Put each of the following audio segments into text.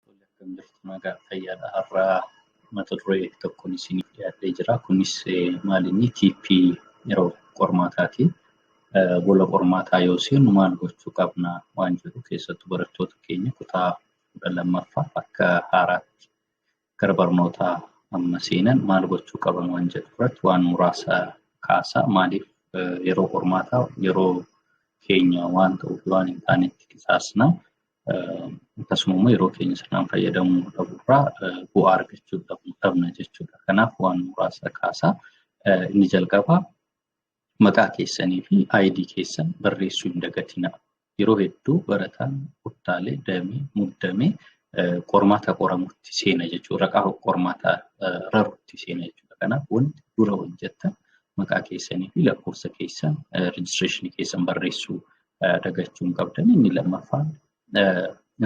Tole akkam jirtu nagaa fayyaadha har'aa mata duree tokkoon isiniif dhiyaatee jira. Kunis eh, maalinni TP yeroo qormaataati. Eh, Gola qormaataa yoo seenu maal gochuu qabna waan jedhu keessattuu barattoota keenya kutaa kudha lammaffaa akka haaraatti gara barnootaa amma seenan maal gochuu qaban waan jedhu irratti waan muraasa kaasaa maaliif yeroo qormaataa yeroo keenya waan ta'uuf waan hin taanetti qisaasna akkasuma immoo yeroo keenya sirnaan fayyadamuu dhabuurraa bu'aa argachuu dhabna jechuudha. Kanaaf waan muraasa kaasaa inni jalqabaa Maqaa keessanii fi ID keessan barreessuu hin dagatinaa. Yeroo hedduu barataan kuttaalee damee muddamee qormaata qoramutti seena jechuudha. Raqaa qormaataa rarutti seena jechuudha. Kanaaf wanti dura hojjettan maqaa keessanii fi lakkoofsa keessan rejistireeshinii keessan barreessuu dagachuu hin qabdan. Inni lammaffaan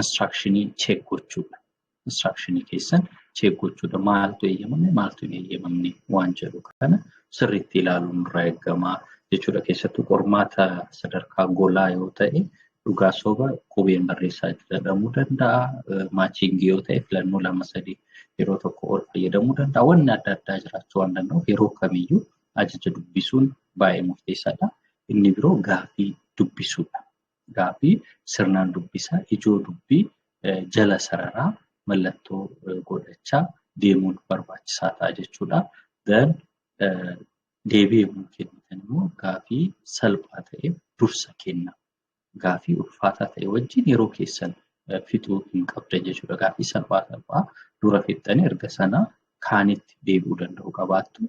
instructionii check gochuudha. instruction keessan check gochuudha maaltu eeyyamame maaltu hin eeyyamamne waan jedhu kana sirriitti ilaaluun irraa eegama jechuudha keessattuu qormaata sadarkaa golaa yoo ta'e dhugaa soba qubeen barreessaa jedhamuu danda'a maachiingii yoo ta'e filannoo lama sadii yeroo tokko ol fayyadamuu danda'a wanni adda addaa jiraachuu waan danda'uuf yeroo kamiyyuu ajaja dubbisuun baay'ee murteessaadha inni biroo gaafii dubbisuudha gaaffii sirnaan dubbisaa, ijoo dubbii jala sararaa mallattoo godhachaa deemuun barbaachisaa ta'a jechuudha. Then deebii yommuu kennitan immoo gaaffii salphaa ta'e dursa kenna. Gaaffii ulfaataa ta'e wajjin yeroo keessan fixuu hin qabdan jechuudha. Gaaffii salphaa salphaa dura fixxanii erga sana kaanitti deebi'uu danda'u qabaattu.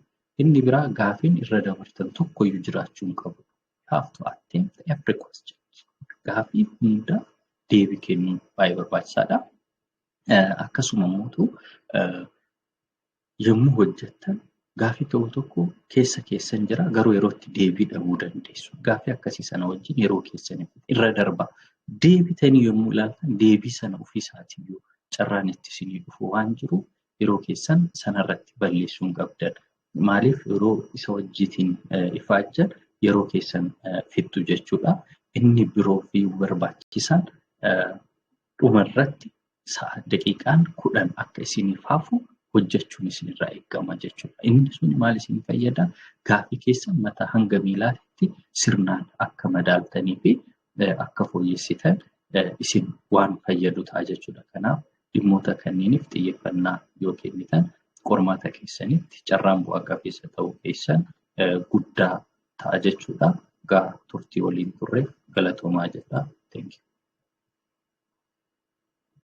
Inni biraa gaafiin irra dabartan tokkoyyuu jiraachuu hin qabu. you have to attempt every question. Gaaffii hunda deebii kennuun baay'ee barbaachisaadha. Eh, Akkasuma immoo ta'u, eh, yommuu hojjettan gaaffii tokko tokko keessa keessan jira garuu yeroo itti deebii dhabuu dandeessu. Gaaffii akkasii sana wajjin yeroo keessan irra darba. Deebitanii yommuu ilaaltan deebii sana ofiisaatiyyuu carraan itti isinii dhufu waan jiru yeroo keessan sanarratti balleessuun qabdan. Maaliif yeroo isa wajjiitiin ifaajjan yeroo keessan fixxu jechuudha. Inni biroo fi barbaachisaan dhuma irratti sa'a daqiiqaan kudhan akka isiniif hafu hojjechuun isinirraa eegama jechuudha. Inni sun maal isin fayyada? Gaafii keessan mataa hanga miilaatti sirnaan akka madaaltanii fi akka fooyyessitan isin waan fayyadu ta'a jechuudha. Kanaaf Dhimmoota kanniiniif xiyyeffannaa yoo kennitan qormaata keessanitti carraan bu'a qabeessa ta'uu keessan guddaa ta'a jechuudha. Gaa turtii waliin turreef galatoomaa jedha. Thank you.